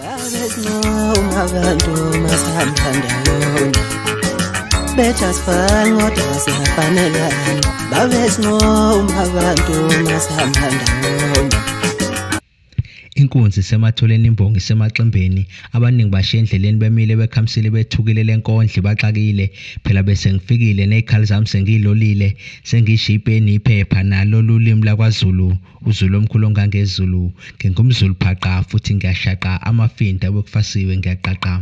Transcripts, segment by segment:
babesinquma abantu masihamba ndawonye bejasifani kodwa basiyafanelana babesinquma abantu masihamba ndawonye inkunzi isematholeni imbongi isemaximbeni abaningi bashiya endleleni bemile bekhamisile bethukile lenkondli baxakile phela bese ngifikile nezikhali zami sengiyilolile sengishiye ipeni iphepha nalo lulimi lakwaZulu UZulu omkhulu ongangezulu, ngingumZulu phaqa futhi ngiyashaqa amafinta obekufasiwe ngiyaqaqa.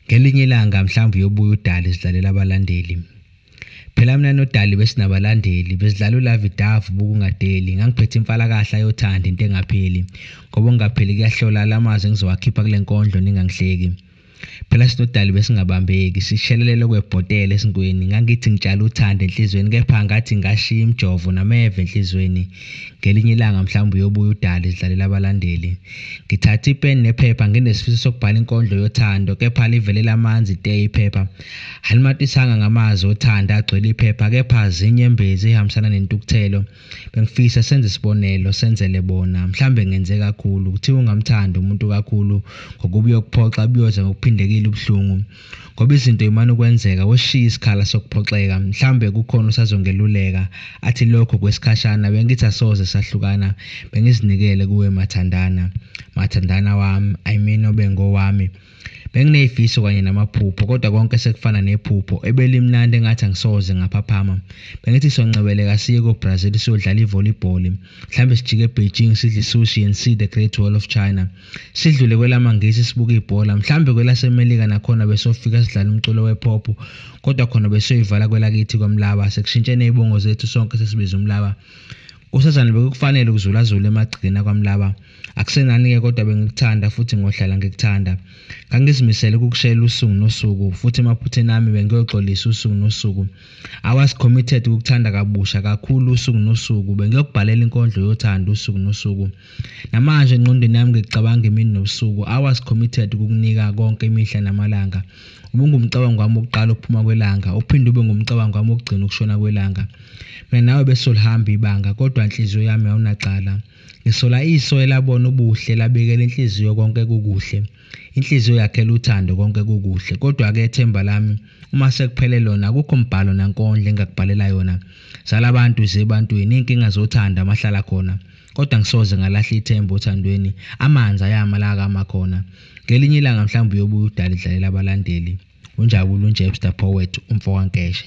Ngelinye ilanga mhlawumbe uyobuya udali zidlalela abalandeli. Phela mina nodali besinabalandeli, bezidlala ulavidavu bokungadeli, ngangiphethe imfalakahla yothando into engapheli. Ngoba ungapheli kuyahlola la mazwi engizowakhipha kule nkondlo ningangihleki. Phela sinodali besingabambeki, sishelelele okwebhotela esintweni. Ngangithi ngitshala uthando enhlizweni kepha ngathi ngashiya imjovo nameve enhlizweni. Ngelinye ilanga mhlawumbe uyobuya udali zidlalela abalandeli. Ngithathe ipeni nephepha nginesifiso sokubhala inkondlo yothando kepha livelela amanzi te iphepha. Alimatisanga ngamazwi othando agcwele iphepha kepha zinye embezi ehambisana nentukuthelo. Bengifisa senze isibonelo senzele bona mhlambe ngenze kakhulu kuthiwa ungamthanda umuntu kakhulu ngokuba uyokuphoxa buyoza ngokuphindekile ubuhlungu ngoba izinto imane ukwenzeka weshiya isikhala sokuphoxeka mhlambe kukhona usazongeluleka athi lokho kwesikhashana bengithi asoze sahlukana bengizinikele kuwe mathandana mathandana wami i mean obengowami Benginezifiso kanye namaphupho kodwa konke sekufana nephupho ebelimnandi engathi angisoze ngaphaphama. Bengithi soncebeleka siye ko-Brazil siyodlala i-volleyball. Mhlawumbe sijike e-Beijing sidle i-sushi and see the Great Wall of China. Sidlule kwelamaNgisi sibuke ibhola. Mhlawumbe kwelaseMelika nakhona besofika sidlala umculo we-pop kodwa khona besiyoyivala kwelakithi kwaMlaba. Sekushintshene izibongo zethu sonke sesibiza uMlaba. Usazana bekukufanele ukuzulazula emagcekeni akwamlaba. Akusenani-ke kodwa bengikuthanda futhi ngohlala ngikuthanda. Ngangizimisele ukukushayela usuku nosuku futhi emaphutheni ami bengiyoxolisa usuku nosuku. I was committed ukukuthanda kabusha kakhulu usuku nosuku. Bengiyokubhalela inkondlo yothando usuku nosuku. Namanje engqondweni yami ngicabanga imini nobusuku, hours committed ukukunika konke imihla namalanga. Ubungumcabango wami wokuqala ukuphuma kwelanga, uphinde ube ngumcabango wami wokugcina ukushona kwelanga. Mina nawe besolihamba ibanga, kodwa inhliziyo yami awunacala. Ngisola iso elabona ubuhle, labekela inhliziyo konke kukuhle. Inhliziyo yakhela uthando konke kukuhle. Kodwa-ke themba lami, uma sekuphele lona, akukho mbhalo nankondlo engingakubhalela yona. Zala abantu ziye ebantwini, iy'nkinga zothando amahlala khona. Kodwa ngisoze ngalahla ithemba othandweni, amanzi ayama la akama khona. Ngelinye ilanga mhlawumbe uyobuya udala idlalela abalandeli. Unjabula uNjebster Poet, umfokaNkeshe.